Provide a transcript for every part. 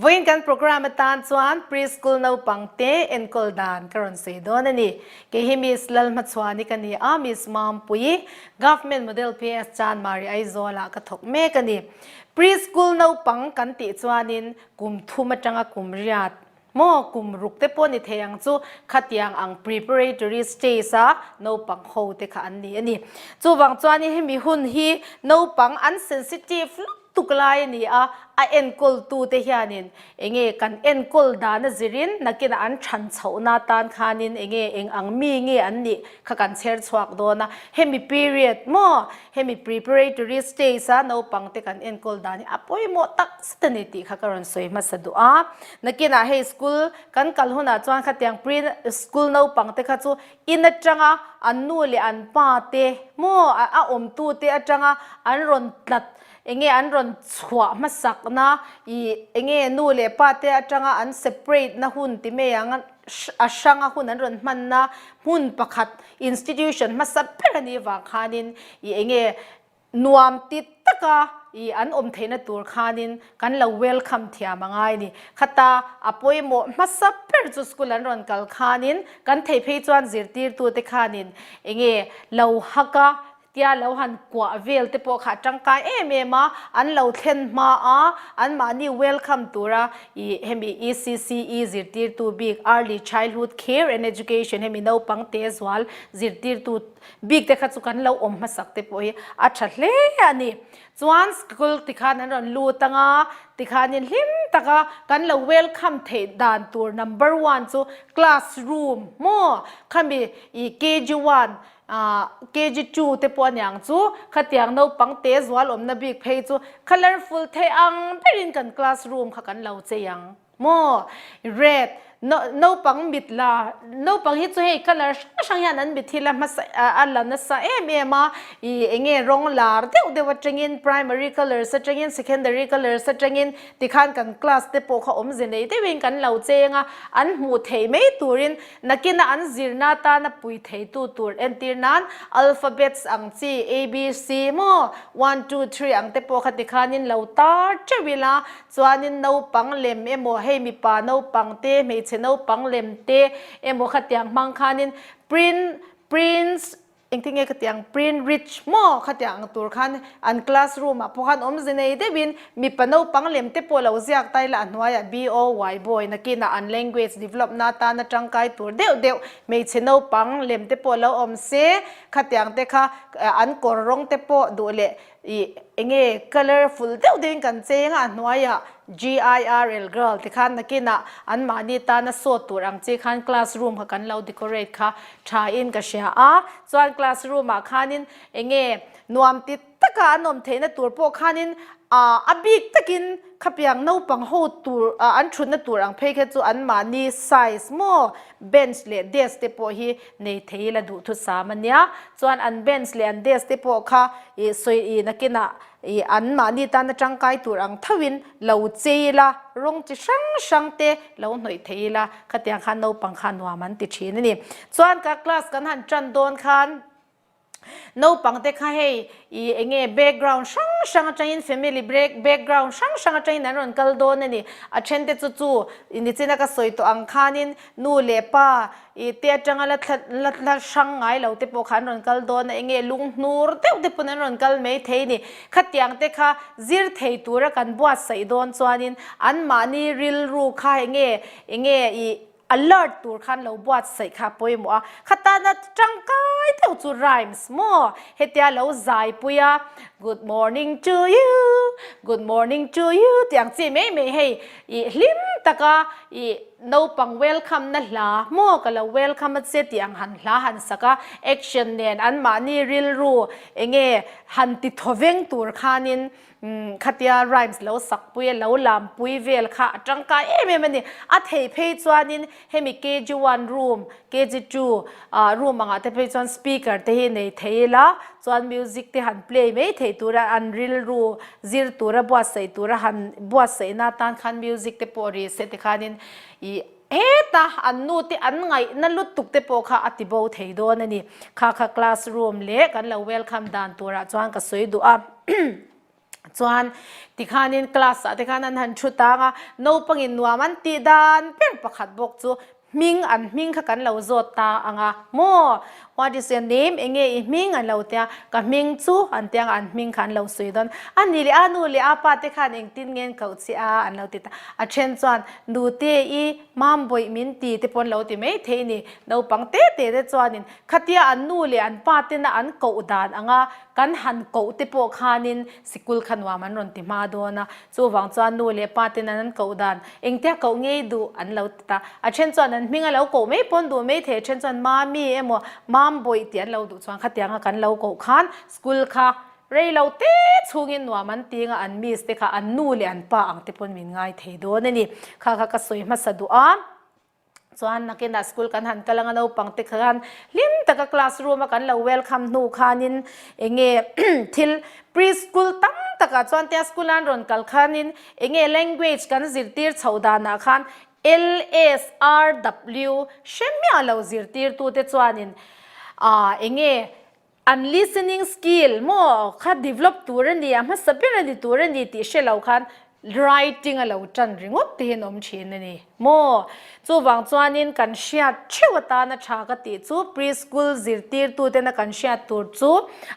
Vawiin kan programme atan chuan Pre-school naupang te enkawl dan ka rawn sawi dawn a ni. Kei hi Miss Lalhma Chhuani ka ni a, Miss Mampuii, Government Model PS Chan Mari Aizawlah ka thawk mek a ni. Pre-school naupang kan tih chuanin kum thum atanga kum riat, Maw? Kum ruk te pawh ni thei ang chu khatiang ang preparatory stage a naupang ho te kha an ni a ni. Chuvang chuan in hemi hun hi naupang an sensitive lutuk lai a ni a, a enkawl tu te hian in eng nge kan enkawl dan a zir in nakin an than chhoh na tan khan in eng nge eng ang mi nge an nih kha kan chher chhuak dawn a, hemi period maw? Hemi preparatory stage-a naupangte kan enkawl dan hi a pawimawh taksa ta ni tih kha ka rawn sawi hmasa duh a. Nakinah hei school kan kal hunah chuan khatiang pre school naupangte kha chu in atanga an nu leh an pa te maw a awmtute atanga an rawn tlat eng nge an rawn chhuah hmasakna ih eng nge nu leh pate atanga an separate na hun ti mai ang a, a hranga hun an rawn hmanna hmun pakhat institution hmasa ber a nih vang khanin i eng nge nuam ti taka i an awm theihna tur khanin kan lo welcome thiam a ngai a ni. Khata a pawimawh hmasa ber chu school an rawn kal khanin kan thei phei chuan zirtirtute khanin eng nge lo hak a, tia lo han kuah vel te pawh kha tangkai em em a an lo thlen hma a, an mahni welcome tur a ih hemi ECCE zirtirtu bik Early Childhood Care and Education hemi naupang tehzual zirtirtu bik te kha chu kan lo awm hmasak te pawh hi a tha hle a ni. Chuan school ti khan an rawn lut ang a tikhanin hlim taka kan lo welcome theih dan tur number one chu classroom maw khami ih KG one A, KG two te pawh aniang chu khatiang naupang te zual awmna bik phei chu colourful thei ang berin kan classroom kha kan lo chei ang maw. Red, no, naupang mit la, naupang hi chu hei colour hrang hrang hian an mit hi la hmasa a, a la nasa em em a, i enge rawng lar deuh deuh atangin primary colours atangin secondary colours atangin tikhan kan class te pawh kha awmze nei deuhin kan lo chei anga an hmuh theih mai turin Nakina an zirna atana pui theitu tur entir nan alphabets ang chi ABC maw, one two three ang te pawh kha tikhanin lo tar teuh ila, chuanin naupang lem emaw hei mipa naupang te hmeichhe naupang lem te emaw khatiang hmang khanin print, prince, Engtin nge ka tih ang, print rich maw kha tiang ang tur khan an classroom ah pawh khan awmze nei deuh in mipa naupang lem te pawh lo ziak ta ila a hnuai ah BOY, Boy, nakin ah an language develop na atan a tangkai tur deuh deuh hmeichhe naupang lem te pawh lo awmse kha tiang te kha an kawr rawng te pawh duh leh Ih, enge colourful deuh deuhin kan cheng a, a hnuaiah GIRL, girl, te khan nakinah an mahni tana sawt tur ang chi khan classroom kha kan lo decorate kha thain ka hria a, chuan classroom-ah khanin enge nuam ti taka an awm theihna tur pawh khanin ah a bik takin khapiang naupang ho tur ah an thutna tur ang phei kha chu an mahni size maw bench leh desk te pawh hi Nei thei ila duh thusam a nia. Chuan an bench leh an desk te pawh kha i sawi i nakinah i an mahni tana tangkai tur ang thauhin lo che ila, rawng chi hrang hrang te lo hnawih thei ila, khatiang khan naupang kha nuam an ti thin a ni. Chuan ka class kan han tan dawn khan. Naupang te kha hei i enge background hrang hrang atangin family break background hrang hrang atangin an rawn kal dawn a ni. A then te chu chu i nichina ka sawi tawh ang khanin nu leh pa i te atanga la thla la thla hrang ngai lo te pawh kha an rawn kal dawn a, enge lung hnur deuh te pawh an rawn kal mai thei ni. Khatiang te kha zir thei tura kan buatsaih dawn chuanin anmahni rilru kha enge enge i Alert tur khan lo buat saih kha pawimawh a, khatana tangkai deuh chu rhymes maw? Hetia lo zaipui a, Good morning to you, good morning to you tih ang chi mai mai hei i hlim taka i naupang welcome na hla maw ka lo welcome a che tih ang han hla han sak a, action nen anmahni rilru enge han ti thawveng tur khanin Khatia rhymes lo sakpui a lo lampui vel kha a tangkai em em a ni. A thei phei chuanin hemi kg one room, kg two ah room angah te phei chuan speaker te hi nei thei ila chuan music te han play mai thei tura an rilru zir tura buatsaih tura han buatsaihna tan khan music te pawh rih se tikhanin ih Heta an nu te an ngaihna lutuk te pawh kha a ti bo thei dawn a ni. Kha kha class room leh kan lo welcome dan turah chuan ka sawi duh a. Chuan tikhanin class ah te khan an han thu tang a, naupangin nuam an tih dan ber pakhat bawk chu hming an hming kha kan lo zawt ta ang a maw. What is your name? Enge i hming? an lo tia. Ka hming chu an tiang a, an hming kha an lo sawi dawn. A ni leh a nu leh a pa te khan engtin nge an koh che a? an lo ti ta. A then chuan nu te i Mambawi min ti te pawh an lo ti mai thei a ni. Naupang te te te chuanin khatia an nu leh an pa tena an koh dan anga kan han koh te pawh khanin sikul kha nuam an rawn ti hma dawn a. Chuvang chuan nu leh pa ten an an koh dan. Engtia koh ngei duh an lo ti ta. A then chuan an hming a lo koh mai pawn duh mai thei a then chuan Mami emaw Mambawi tih an lo duh chuan khatiang a kan lo koh khan school kha rei lo te chhungin nuam an ti anga an miss te kha an nu leh an pa ang te pawn min ngai thei dawn a ni. Kha kha ka sawi hmasa duh a. Chuan nakina school kan han kal anga naupangte khan hlim taka classroom a kan lo welcome hnu khanin enge thil pre-school tam takah chuan tia school a an rawn kal khanin enge language kan zirtir chhoh danah khan lsrw hremia lo zirtirtute chuanin enge An listening skill maw kha develop tur a ni a, hmasa ber a ni tur a ni tih hre lo khan writing a lo tan ringawt te hian awm thin a ni maw? Chuvang chuanin kan hriat theuh atan a tha ka tih chu pre-school zirtirtuten a kan hriat tur chu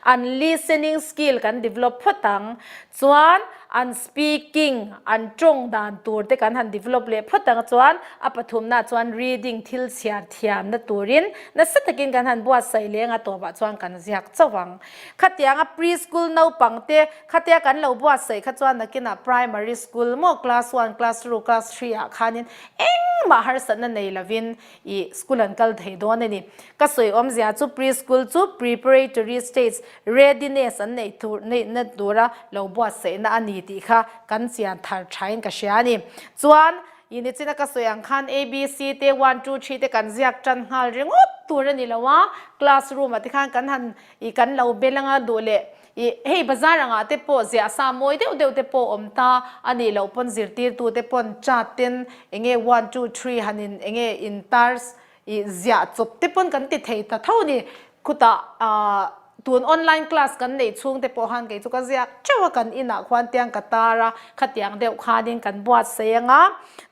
an listening skill kan develop phawt ang. chuan an speaking, an tawng dan tur te kan han develop leh phawt ang chuan a pathumnaah chuan reading, thil chhiar thiamna turin nasa takin kan han buatsaih leh ang a tawpah chuan kan ziak chauh ang. Khatianga pre-school naupang te, khatia kan lo buatsaih kha chuan nakinah primary school maw class one, class two, class three ah khanin engmah harsatna nei lovin, I school an kal thei dawn a ni. Ka sawi awmzia chu pre-school chu preparatory stage readiness an neih tur neihna tura lo buatsaihna a ni tih kha kan chian thar thain ka hria a ni. Chuan i nichina ka sawi ang khan ABC te one two three te kan ziak tan nghal ringawt tur a ni lo a, classroom-ah te khan kan han i kan lo bel anga duh leh Ih, hei bazar angah te pawh ziah sa mawi deuh deuh te pawh awm ta a nih loh pawn zirtirtu te pawn chat ten enge one two three han in enge in tar ih ziah chawp te pawn kan ti thei ta tho ni. Khutah ah tun online class kan neih chhung te pawh han kei chu ka ziak teuh a kan inah khuan tiang ka tar a, khatiang deuh khanin kan buatsei anga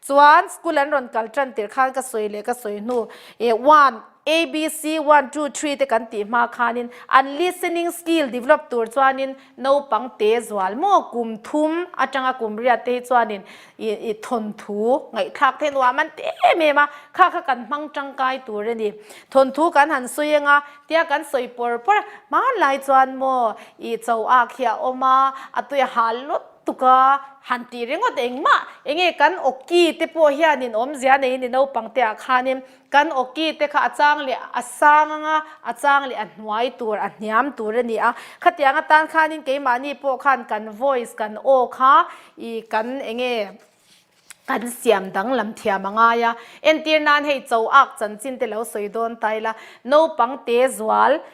chuan school an rawn kal tan tirh khan ka sawi leh ka sawi hnu ih one ABC one two three te kan tih hma khanin an listening skill develop tur chuanin naupang te zual maw kum thum atanga kum riat te hi chuanin i thawnthu ngaihthlak theih nuam an ti em em a, kha kha kan hmang tangkai tur a ni. Thawnthu kan han sawi ang a, tia kan sawi pawr pawr a, hmanlai chuan maw i chauak hi a awm a, a tui a hal lawt tuk a, han tih ringawt engmah, enge kan awki te pawh hianin awmzia nei a ni naupang te ah khanin, Kan awki te kha a chang leh a sang anga a chang leh a hnuai tur a hniam tur a ni a. Khatiang atan khanin keimahni pawh khan kan voice kan aw kha i kan eng nge kan siam danglam thiam a ngai a. Entir nan hei cho ak chanchin te lo sawi dawn ta ila naupang te zual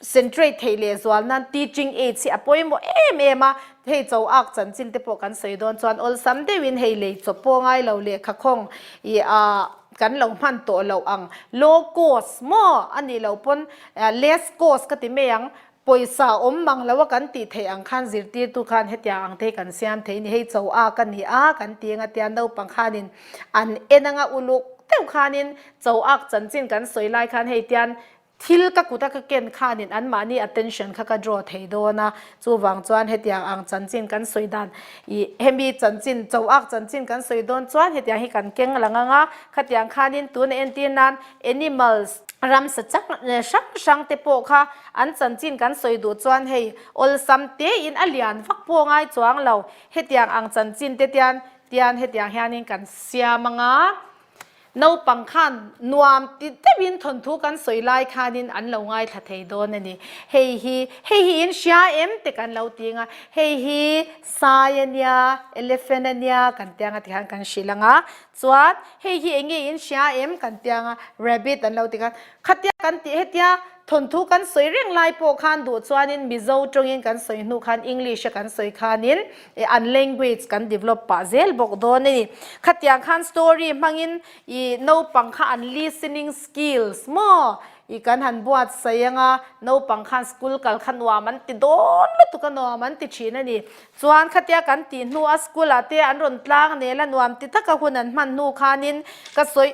centrate theih leh zual nan teaching aids hi a pawimawh em em a, hei chaw ak chanchin te pawh kan sawi dawn chuan awlsam deuh in hei lei chawp pawh ngai lo leh khakhawng ih ah kan lo hman tawh loh ang low cost maw a nih loh pawn ah less cost ka ti mai ang pawisa awm mang lo a kan tih theih ang khan zirtir tu khan hetia ang te hi kan siam thei a ni hei chaw ak a ni a kan ti ang a tia naupang khan in an en ang a uluk deuh khan in chaw ak chanchin kan sawi lai khan hei tian Thil ka kuta ka ken khanin anmahni attention kha ka draw thei dawn a, chuvang chuan hetiang ang chanchin kan sawi dan ih hemi chanchin chauhak chanchin kan sawi dawn chuan hetiang hi kan keng la ngang a, khatiang khanin tun a entir nan animals, ramsa chak hrang hrang te pawh kha an chanchin kan sawi duh chuan hei awlsam tein a lian vak pawh a ngai chuang lo hetiang ang chanchin te tian tian hetiang hianin kan siam anga. Naupang khan nuam ti deuhin thawnthu kan sawi lai khanin an lo ngaithla thei dawn a ni. Hei hi, hei hi in hria em te kan lo ti ang a, hei hi sai a nia, elephant a nia kan ti ang a tikhan kan hrilh ang a. Chuan hei hi eng nge in hria em kan ti ang a, rabbit an lo ti khan khatia kan tih hetia thawnthu kan sawi reng lai pawh khan duh chuanin Mizo tawngin kan sawi hnu khan English a kan sawi khanin E an language kan develop pah zel bawk dawn a ni. Khatiang khan story hmangin i naupang kha an listening skills maw i kan han buat sai anga naupang khan school kal kha nuam an ti dawn lutuk a nuam an ti thin a ni. Chuan khatia kan tih hnu a school ah te an rawn tlang nel a nuam ti taka hun an hman hnu khanin ka sawi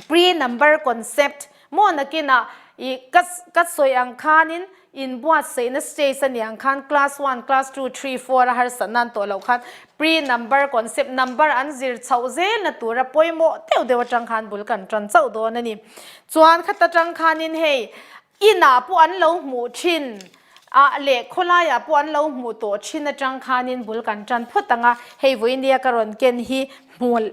Pre number concept, Maw nakinah i ka ka sawi ang khanin in buatsaihna stage a ni ang khan class one, class two, three, four a harsa nan tawh loh khan pre number concept number an zir chhoh zel na tura pawimawh deuh deuh atang khan bul kan tan chauh dawn a ni. Chuan khat atang khanin hei Inah pawh an lo hmuh thin a leh khawlaiah pawh an lo hmuh tawh thin atang khanin bul kan tan phawt ang a, hei vawinia ka rawn ken hi hmawlh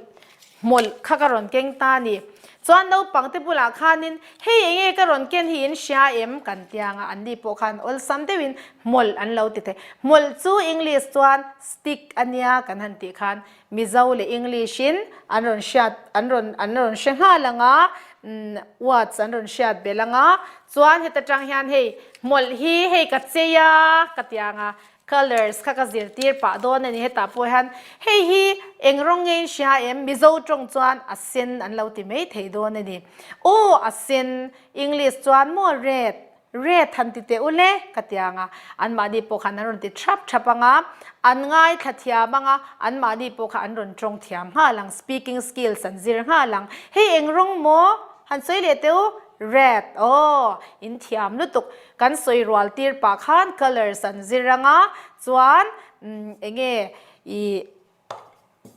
hmawlh kha ka rawn keng ta a ni. Chuan naupangte bulah khanin hei eng nge ka rawn ken hi in hria em kan ti ang a, anni pawh khan awlsam deuhin hmawlh an lo ti thei. Hmawlh chu English chuan stick a nia kan han tih khan Mizo leh English in an rawn hriat an rawn an rawn hre nghal ang a, umm words an rawn hriat belh ang a, chuan heta tang hian hei hmawlh hi hei ka chei a ka ti ang a, colours kha ka zirtir pah dawn a ni, hetah pawh hian hei hi eng rawng nge in hria em? Mizo tawng chuan a sen an lo ti mai thei dawn a ni. Aw a sen, English chuan maw red? Red han ti teh u le ka ti ang a, anmahni pawh khan an rawn ti thrap thrap ang a, an ngaithla thiam ang a, anmahni pawh kha an rawn tawng thiam nghal ang, speaking skills an zir nghal ang. Hei eng rawng maw? Han sawi leh teh u. Red. Aw, in thiam lutuk. Kan sawi rual tir pah khan colours an zir ang a, chuan umm eng nge ih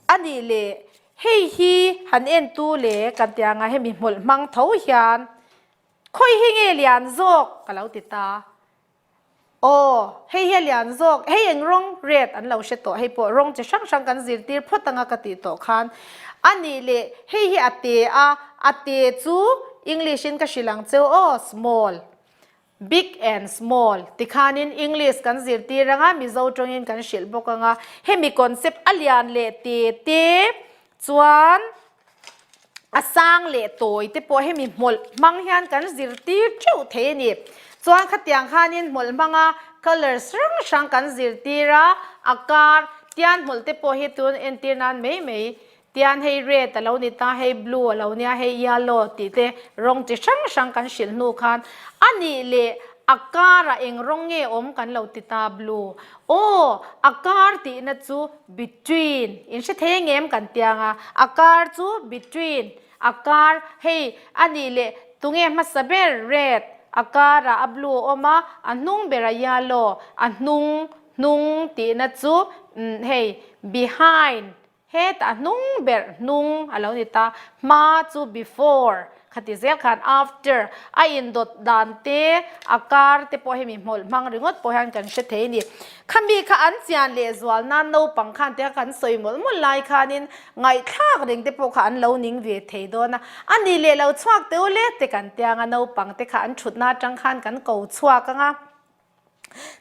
a nih leh hei hi han en tu le kan ti ang a, hemi hmawlh hmang tho hian Khawi hi nge lian zawk? Ka lo ti ta. Aw, hei hi a lian zawk. Hei eng rawng? Red an lo hre tawh. Hei pawh rawng chi hrang hrang kan zir tir phawt anga ka tih tawh khan. A nih leh, hei hi a te a, a te chu English in ka hrilh ang che aw, small, big and small ti khanin English kan zir tir anga Mizo tawngin kan hrilh bawk anga hemi concept a lian leh te te Chuan a sang leh tawi te pawh hemi hmawlh hmang hian kan zir tir teuh thei a ni. Chuan khatiang khanin hmawlh hmanga colours hrang hrang kan zir tir a, a kar tian hmawlh te pawh hi tun entir nan mai mai tian hei red a lo ni ta, hei blue a lo nia, hei yellow tih te rawng chi hrang hrang kan hrilh hnu khan a nih leh a karah eng rawng nge awm kan lo ti ta, blue Aw, a kar tihna chu between in hretheng em kan ti anga a kar chu between a kar hei a nih leh tunge hmasa ber red a karah a blue a awm a a hnung berah yellow a hnung hnung tihna chu umm hei behind Heta a hnung ber hnung a lo ni ta. Hma chu before kha ti zel khan after a indawt dan te a kar te pawh hemi hmawlh hmang ringawt pawh hian kan hre thei a ni. Khami kha an chian leh zual nan naupang khan te kha kan sawi mawlh mawlh lai khanin ngaihthlak reng te pawh kha an lo ning ve thei dawn a. A nih leh lo chhuak teu le te kan tia ang a, naupang te kha an thutna atang khan kan ko chhuak ang a.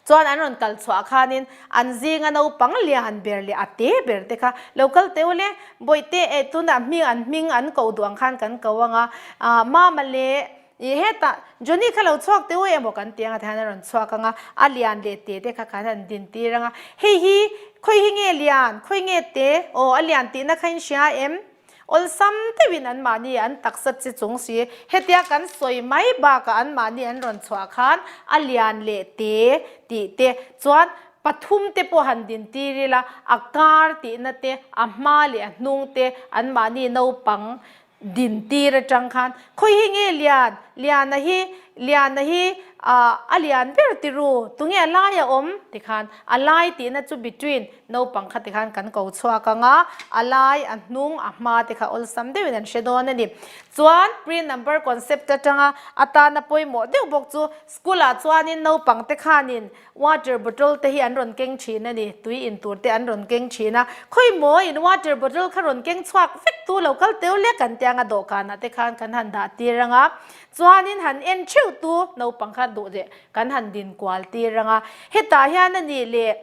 Chuan an rawn kal chhuah khanin an zinga naupang lian ber leh a te ber te kha, Lo kal teh ule, Bawihte e, tunah hming an hming an koh duh ang khan kan ko anga, ah, Mama leh ih hetah Johnny kha lo chhuak teh u emaw kan ti anga tihian an rawn chhuak anga, a lian leh te te kha khan an din tir anga, Hei hi, khawi hi nge lian, khawi nge te, aw, a lian tihna khain hria em? Awlsam deuhin anmahni an taksa chi chung si. Hetia kan sawi mai bakah anmahni an rawn chhuah khan a lian leh te tih te chuan pathum te pawh han din tir ila, a kar tihna te, a hma leh a hnung te anmahni naupang din tir atang khan khawi hi nge lian, liana hi, liana hi a lian ber tih ru, tunge a lai a awm? ti khan a lai tihna chu between. Naupang kha te khan kan ko chhuak ang a, a lai, a hnung, a hma te kha awlsam deuhin an hre dawn a ni. Chuan Pre Number Concept atanga atana pawimawh deuh bawk chu school ah chuanin naupang te khanin water bottle te hi an rawn keng thin a ni, tui in tur te an rawn keng thin a. Khawi maw in water bottle kha rawn keng chhuak vek tu lo kal teu lek an tia ang a, dawhkanah te khan kan han dah tir ang a. Chuanin han en theuh tu naupang kha duh leh. Kan han din kual tir rang a. Hetah hian a nih leh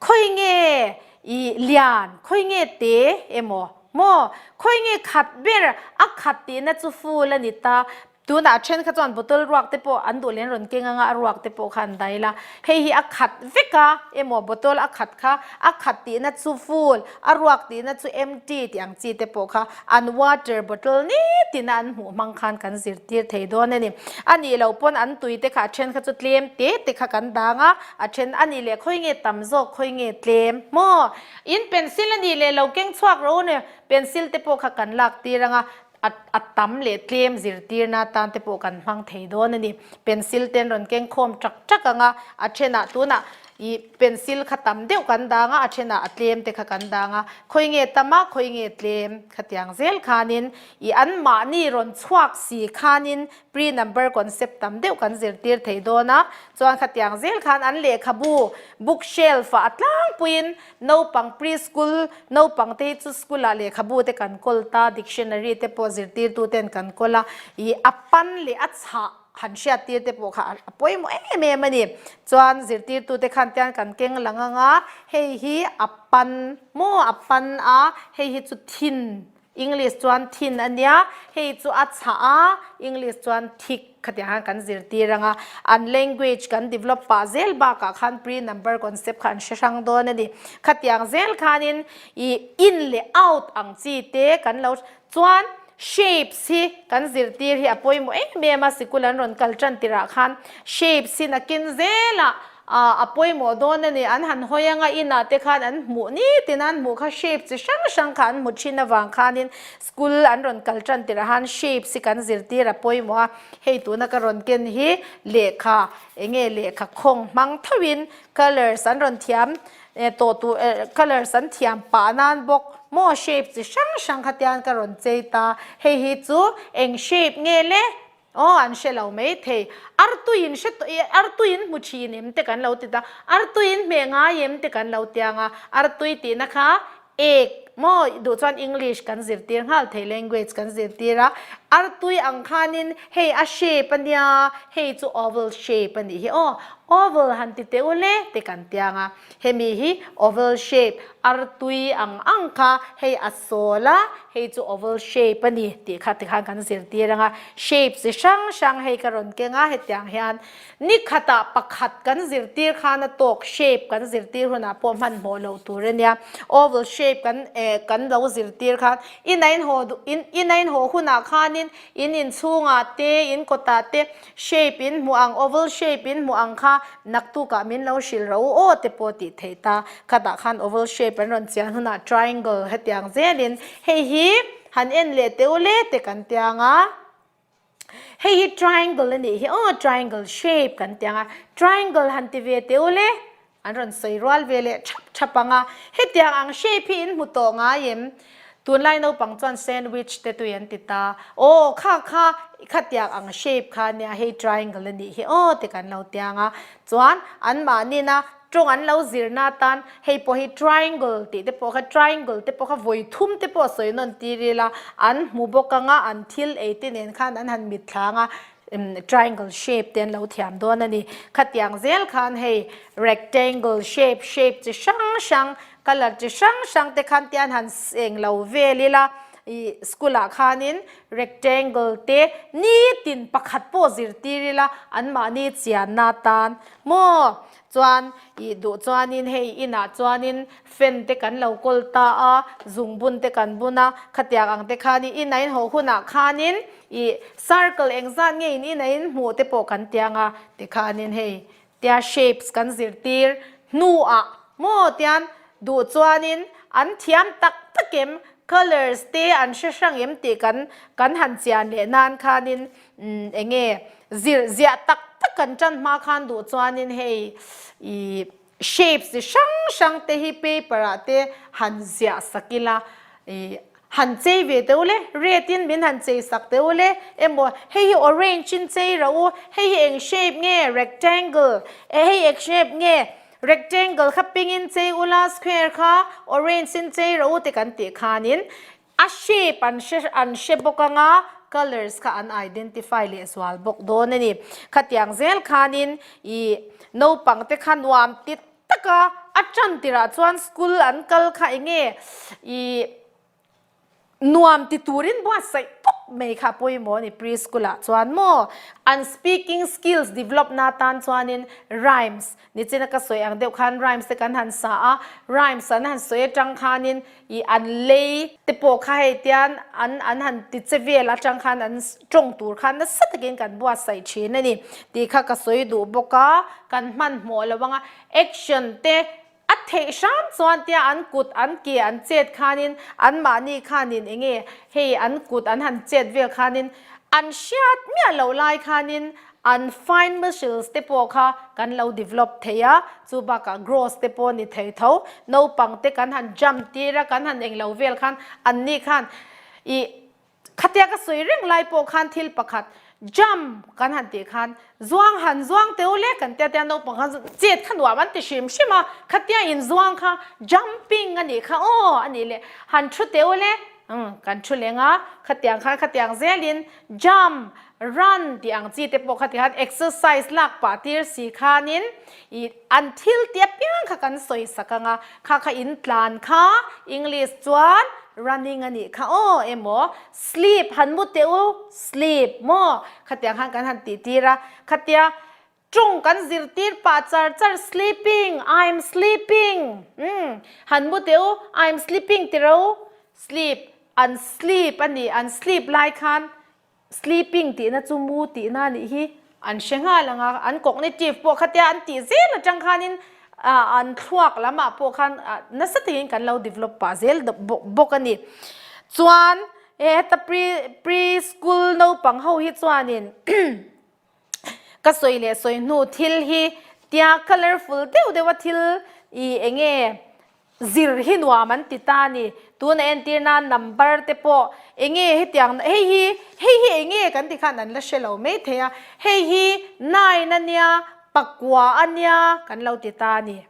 khawi nge ih lian, khawi nge te emaw maw, khawi nge khat ber a khat tihna chu full a ni ta. Tunah a then kha chuan bottle ruak te pawh an duh leh an rawn keng anga a ruak te pawh kha an dai la. Hei hi a khat vek a emaw bottle a khat kha a khat tihna chu full. A ruak tihna chu empty tih ang chi te pawh kha an water bottle ni tina an hmuh hmang khan kan zirtir thei dawn a ni. A nih loh pawn an tui te kha a then kha chu tlem te te kha kan dang a, a then a nih leh khawi nge tam zawk khawi nge tlem maw? In pencil a nih leh lo keng chhuak ro a ni, pencil te pawh kha kan lak tir ang a, a tam leh tlem zirtirna atan te pawh kan hmang thei dawn a ni. Pencil ten rawn kengkhawm ṭak ṭak ang a, a ṭhenah tunah ih pencil kha tam deuh kan dang a, a ṭhenah a tlem te kha kan dang a, khawi nge tam a, khawi nge tlem khatiang zel khanin ih anmahni rawn chhuak si khanin pre number concept tam deuh kan zirtir thei dawn a, chuan khatiang zel khan an lehkhabu book shelf-ah a tlangpuiin Naupang Pre-School naupang te hi chu school ah lehkhabu te kan kawl ta, dictionary te pawh zirtir tu ten kan kawl a, ih a pan leh a chhah han hriat tir te pawh kha a pawimawh em em a ni. Chuan zirtir tu te khan tian kan keng lang ang a, hei hi a pan maw a pan a, hei hi chu thin, English chuan thin a nia, hei chu a chhah a, English chuan thick khatiang khan kan zirtir ang a. An language kan develop pah zel bakah khan pre-number concept kha an hre hrang dawn a ni. Khatiang zel khanin i in leh out ang chi te kan lo hre. Chuan shapes hi kan zirtir hi a pawimawh em em a, sikul an rawn kal tan tirah khan shapes hi nakin zela, A a pawimawh dawn a ni. An han hawi anga inah te khan an hmuh nitin a, an hmuh kha shape chi hrang hrang kha an hmu thin avang khanin school an rawn kal tan tirh a han shapes hi kan zirtir a pawimawh a, hei tuna ka rawn ken hi lehkha eng nge lehkha khawng hmang thauhin colours an rawn thiam eh tawh tur eh colours an thiam pah nan bawk maw shape chi hrang hrang kha tian ka rawn chei ta, hei hi chu eng shape nge le Aw an hre lo mai thei. Artuiin hre tawh i artuiin hmu thin em te kan lo ti ta, artuiin hmeh ngai em te kan lo tiang a, artui tihna kha egg maw i duh chuan English kan zirtir nghal thei language kan zirtir a, artui ang khanin hei a shape a nia hei chu oval shape a nih hi aw oval han ti teh ule te kan tiang a. Hemi hi oval shape artui ang ang kha hei a sawl a, hei chu oval shape a ni tih kha ti khan kan zirtir ang a. Shape chi hrang hrang hei ka rawn keng a, hetiang hian ni khatah pakhat kan zirtir khan a tawk shape kan zirtir hunah pawh hmanhmawh loh tur a nia. Oval shape kan eh kan lo zirtir khan inainhaw duh in inainhaw hunah khanin in inchhungah te in kawtah te shape in hmuh ang, oval shape in hmuh ang kha naktuk ah min lo hrilh rah u aw te pawh tih theih ta. Khat ah khan oval shape an rawn chian hunah triangle hetiang zel in hei hi han en leh teh u le te kan tia ang a. Hei hi triangle a nih hi aw triangle shape kan tia ang a, triangle han ti ve teh u le An rawn sawi rual ve leh thap thap ang a, hetiang ang shape hi in hmu tawh ngai em? Tunlai naupang chuan sandwich te tui an ti ta. Aw, kha kha, i khatiak ang shape kha nia hei triangle a nih hi aw te kan lo tiang a. Chuan anmahnina tawng an lo zirna atan hei pawh hi triangle tih te pawh kha, triangle te pawh kha vawi thum te pawh sawi nawn tirila an hmu bawk ang a, an thil ei te nen khan an han mitthla ang a. Triangle shape te an lo thiam dawn a ni. Khatiang zel khan hei rectangle shape, shape chi hrang hrang, colour chi hrang hrang te khan tian han eng lo vel ila, ih school ah khanin rectangle te nitin pakhat pawh zirtir ila anmahni chianna atan maw Chuan i duh chuanin hei inah chuanin fan te kan lo kawl ta a, zung bun te kan bun a, khatiak ang te khanin ina inhawh hunah khanin i circle eng zat nge in ina in hmuh te pawh kan tiang a, tikhanin hei tia shapes kan zirtir hnuah maw tian duh chuanin an thiam tak tak em, colours te an hre hrang em tih kan kan han chian leh nan khanin Umm enge zir ziah tak tak kan tan hma khan duh chuanin hei ih shapes chi hrang hrang te hi paper ah te han ziah sak ila ih han chei ve teh ule red in min han chei sak teh ule emaw hei hi orange in chei rah u hei hi eng shape nge rectangle e hei eng shape nge rectangle kha pink in chei ula square kha orange in chei rah u te kan tih khanin A shape an hre an hre bawk anga colours kha an identify leh zual bawk dawn a ni. Khatiang zel khanin ih naupangte kha nuam ti tak a, a tan tirah chuan school an kal kha eng nge ih nuam ti turin buatsaih tawp mai kha a pawimawh a ni preschool ah chuan maw. An speaking skills develop na tan chuanin rhymes Nichina ka sawi ang deuh khan rhymes te kan han sa a, rhymes an han sawi atang khanin ih an lei te pawh kha hei tian an an han ti che vel atang khan an tawng tur khan nasa takin kan buatsaih thin a ni tih kha ka sawi duh bawk a, kan hmanhmawh lo ang a action te a theih hram chuan tia an kut an ke an chet khanin an mahni khanin eng nge hei an kut an han chet vel khanin an hriat miah loh lai khanin An fine muscles te pawh kha kan lo develop thei a, chu bakah growth te pawh ni thei tho. Naupang te kan han jump tir a, kan han eng lo vel khan anni khan ih khatia ka sawi reng lai pawh khan thil pakhat jump kan han tih khan zuang han zuang teu le kan tia tia naupang khan chu chet kha nuam an ti hrim hrim a, khatia in zuang kha jumping a nih kha aw a nih leh han thu teu le, umm kan thu leng a, khatiang khan khatiang zelin. Jump, run tih ang chi te pawh kha tihan exercise lak pah tir si khanin i an thil te apiang kha kan sawi sak ang a, kha kha in tlan kha English chuan running a nih kha aw emaw sleep han mu teh u sleep maw khatiang khan kan han tihtir a, khatia Ṭung kan zir tir pah char char sleeping, I'm sleeping umm han mu teh u, I'm sleeping ti ro. Sleep, an sleep a ni, an sleep lai khan sleeping tihna chu mu tihna anih hi an hre nghal ang a, an cognitive pawh khatia an tih zel atang khanin ah an thluak lamah pawh khan ah nasa takin kan lo develop pah zel bawk a ni. Chuan heta pre, pre school naupang ho hi chuanin Ka sawi leh sawi hnu thil hi tia colourful deuh deuh a thil i eng nge zir hi nuam an ti ta ni. Tuna entir nan number te pawh eng nge hetiang hei hi hei hi eng nge kan ti khan an la hre lo mai thei a. Hei hi nine a nia pakua a nia kan lo ti ta ni.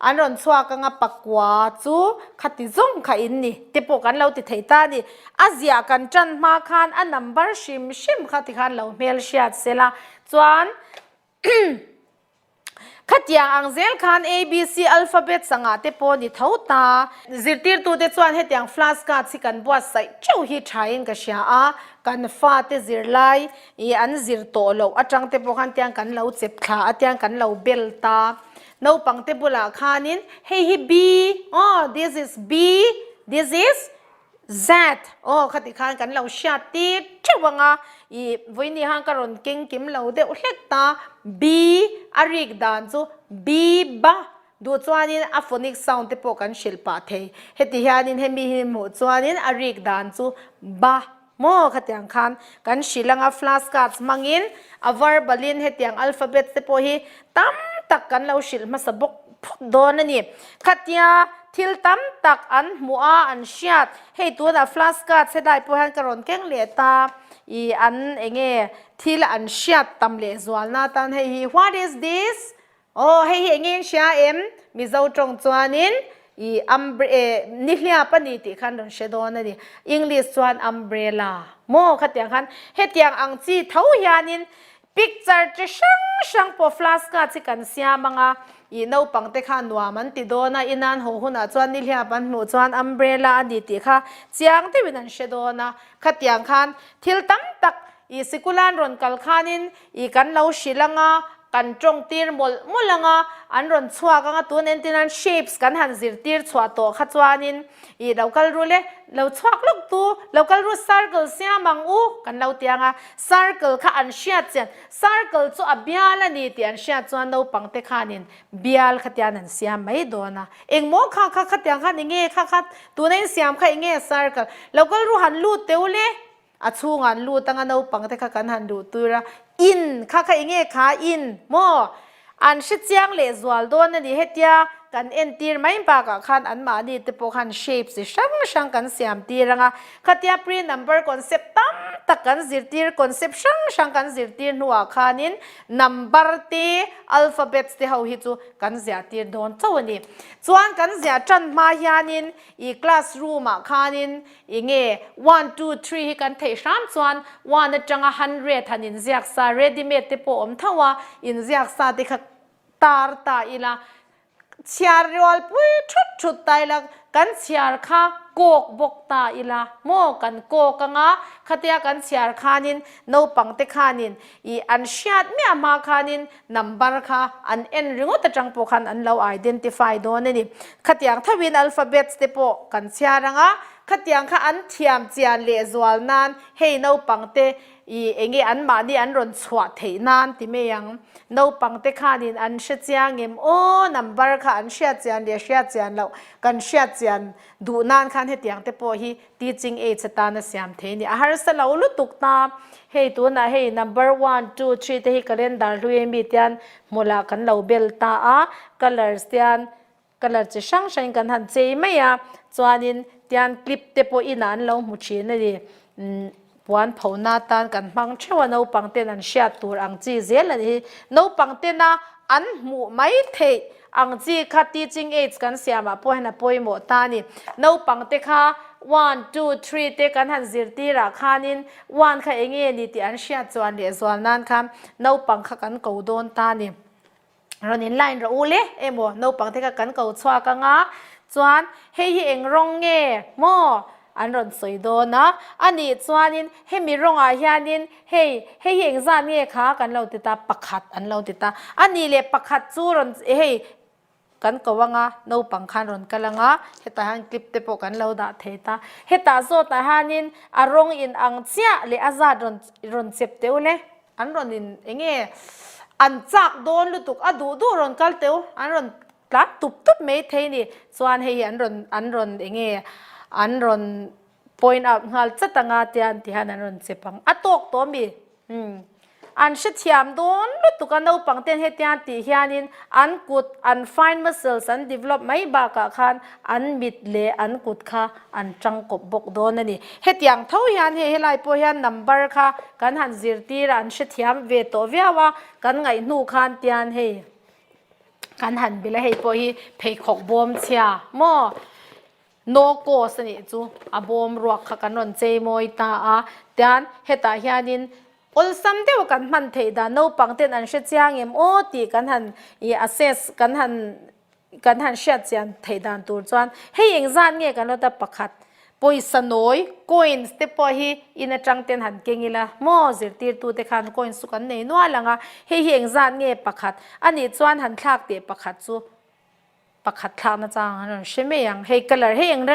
An rawn chhuak anga pakua chu khati zawng kha in ni te pawh kan lo ti thei ta a ni. A ziah kan tan hma khan a number hrim hrim kha ti khan lo hmel hriat se la chuan khatiang ang zel khan abc alphabets angah te pawh ni tho ta. Zirtirtu te chuan hetiang flask a chhi kan buat saih teuh hi tha in ka hria a, kan fa te zir lai i an zir tawh loh atang te pawh khan tiang kan lo chep thla a tiang kan lo bel ta. Naupang te bulah khanin hei hi B aw this is B this is Z aw kha ti khan kan lo hriat tir theuh ang a, ih vawi ni hang ka rawn keng kim lo deuh hlek ta B a rik dan chu Biba duh chuanin a phonic sound te pawh kan hrilh pah thei heti hianin hemi hi hmuh chuanin a rik dan chu Ba. Maw khatiang khan kan hrilh anga flash cards hmangin a var balhin hetiang alphabet te pawh hi tam tak kan lo hrilh hmasa bawk phawt dawn a ni. Khatia thil tam tak an hmu a, an hriat. Hei tunah flash cards helai pawh hian ka rawn keng leh ta i an eng nge thil an hriat tam leh zualna tan hei hi what is this? Aw, hei hi eng in hria em? Mizo tawng chuanin, I, umbre, e, nihliap a ni tih khan rawn hre dawn a ni. English chuan umbrella maw? Khatiang khan hetiang ang chi tho hianin picture chi hrang hrang pawh flashcard hi kan siam ang a, ih, naupangte khan nuam an ti dawn a, inan haw hunah chuan nihliap an hmuh chuan umbrella a ni tih kha chiang deuhin an hre dawn a. Khatiang khan thil tam tak, ih, sikula'n rawn kal khanin, I kan lo hrilh anga, kan tawng tir mawlh mawlh anga, an rawn chhuak anga tun entinan shapes kan han zirtir chhuah tawh kha chuanin ih lo kal rul e, lo chhuak lawk tu, lo kal rul circle siam ang u kan lo ti anga, circle kha an hriat chian, circle chu a bial a ni tih an hriat chuan naupangte khanin bial khatian an siam mai dawn a, engmaw kha kha khatiang khan enge kha kha tuna insiam kha enge circle, lo kal rul han lut teu le. A chhung an lut anga naupang te kha kan han duh tur a, in kha kha enge kha in maw? An hre chiang leh zual dawn a ni hetia kan en tir mai bakah khan an mahni te pawh khan shape chi hrang hrang kan siam tir ang a, khatia pre number concept tam tak kan zir tir concept hrang hrang kan zir tir hnuah khanin number te alphabets te ho hi chu kan ziah tir dawn chauh a ni. Chuan kan ziah tan hma hianin ih classroom ah khanin I nge one two three hi kan theih hram chuan one atanga hundred han inziak sa ready made te pawh awm tho a, inziak sa te kha tar ta ila chhiar rual pui thut thut ta ila kan chhiar kha kawk bawk ta ila maw kan kawk anga khatia kan chhiar khanin naupangte khanin i an hriat miah hma khanin Number kha an en ringawt atang pawh khan an lo identify dawn a ni. Khatiang thauhin alphabets te pawh kan chhiar ang a, khatiang kha an thiam chian leh zual nan hei naupang te i eng nge an mahni an rawn chhuah theih nan ti mai ang. Naupang te khanin an hre chiang em aw, number kha an hriat chian leh hriat chian loh, kan hriat chian duh nan khan hetiang te pawh hi Teaching aids atana siam thei nia. A harsa lo lutuk ta. Hei tunah hei number one, two, three te hi calendar hluiin mite hian hmu lah kan lo bel ta a. Colours te hian colour chi hrang hrangin kan han chei mai a. Chuanin tian clip te pawh inah an lo hmu thin a ni. Umm. Puan phohna atan kan hmang theuh a naupang ten an hriat tur ang chi zel a nih hi naupang tena an hmuh mai theih ang chi kha teaching aids kan siam ah pawh hian a pawimawh ta a ni. Naupang te kha one two three te kan han zir tir ah khan in one kha enge ni tih an hriat chu an leh zual nan khan naupang kha kan ko dawn ta a ni. rawn in line rawh u le emaw naupang te kha kan ko chhuak anga chuan hei hi eng rawng nge maw an rawn sawi dawn a a nih chuanin hemi rawng ah hianin hei hei hi eng zat nge kha kan lo ti ta pakhat an lo ti ta a ni leh pakhat chu rawn hei kan ko anga naupang khan rawn kal anga hetah hian clip te pawh kan lo dah thei ta hetah zawtah hianin a rawng in ang chiah leh a zat rawn rawn chep teuh le. An rawn in enge an chak dawn lutuk a duh duh rawn kal teuh, an rawn tlat tup tup mai thei ni. Chuan hei hi an rawn an rawn enge an rawn point out nghal chat anga tian ti hian an rawn chep ang a tawk tawh ami hmm an hrethiam dawn lutuk a naupang ten hetiang tih hianin an kut an fine muscles an develop mai bakah khan an mit leh an kut kha an tang kawp bawk dawn a ni. Hetiang tho hian hei helai pawh hian number kha kan han zirtirah an hrethiam ve tawh viau a, kan ngaih hnu khan tian hei kan han bil a, hei pawh hi pheikhawk bawm chhia maw, no cost a nih chu a bawm ruak kha kan rawn chei mawi ta a, tian hetah hianin awlsam deuh kan hman theih dan naupang ten an hre chiang em aw tih kan han assess kan han Kan han hriat chian theih dan tur chuan hei eng zat nge ka nawt a pakhat pawisa nawi coins te pawh hi in atang ten han keng ila maw zirtirtu te khan coins chu kan nei nual ang a hei hi eng zat nge pakhat a nih chuan han thlak teh pakhat chu pakhat thlak na chang an rawn hre mai ang hei colour hei eng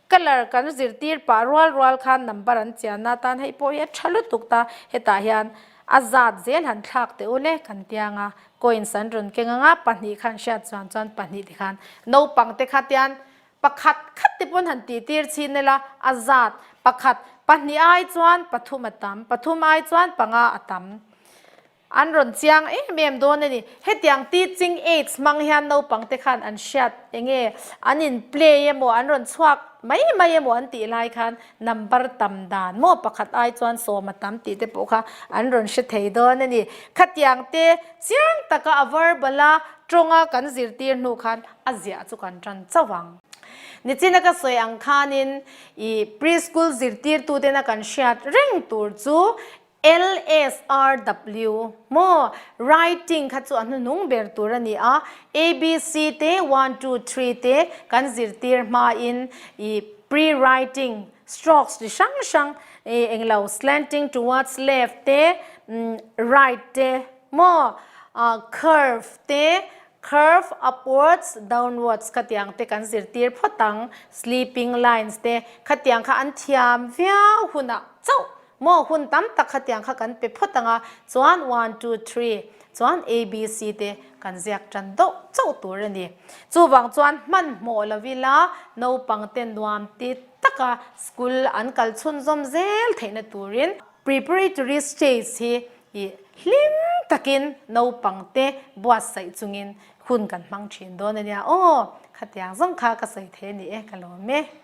colour kan zirtir pah rual rual khan number an chian na tan hei pawh hi a tha lutuk ta hetah hian a zat zel han thlak teh ul e kan tia ang a Coins an rawn keng ang a, pahnih kha an hriat chuang chuan pahnih te khan naupang te khat hian pakhat khat te pawn han tih tir chhin nelh a, a zat pakhat pahnih ai chuan pathum a tam, pathum ai chuan panga a tam an rawn chiang em em dawn a ni. Hetiang teaching aids hmang hian naupang te khan an hriat eng nge an in play emaw an rawn chhuak mai mai emaw an tih lai khan, Number tam dan maw pakhat ai chuan sawm a tam tih te pawh kha an rawn hre thei dawn a ni. Khatiang te chiang taka a verbal a tawnga kan zirtir hnu khan a ziah chu kan tan chauh ang. Nichina ka sawi ang khanin i preschool zirtirtutena kan hriat reng tur chu LSRW, Maw? Writing kha chu a hnunung ber tur a ni a, ABC te one two three te kan zirtir hmain ih pre-writing, strokes chi hrang hrang ih englo slanting towards left te umm right te maw? Ah curve te curve upwards, downwards kha tiang te kan zirtir phawt ang, sleeping lines te khatiang kha an thiam viau hunah chauh Maw hun tam tak kha tiang kha kan pe phawt ang a, chuan one two three chuan abc te kan ziak tan deuh chauh tur a ni. Chuvang chuan hmanhmawh lo ila naupang te nuam ti taka school an kal chhun zawm zel theihna turin preparatory stage hi i hlim takin naupang te buatsaih chungin hun kan hmang thin dawn a nia aw, khatiang zawng kha ka sawi thei a ni e ka lawm e.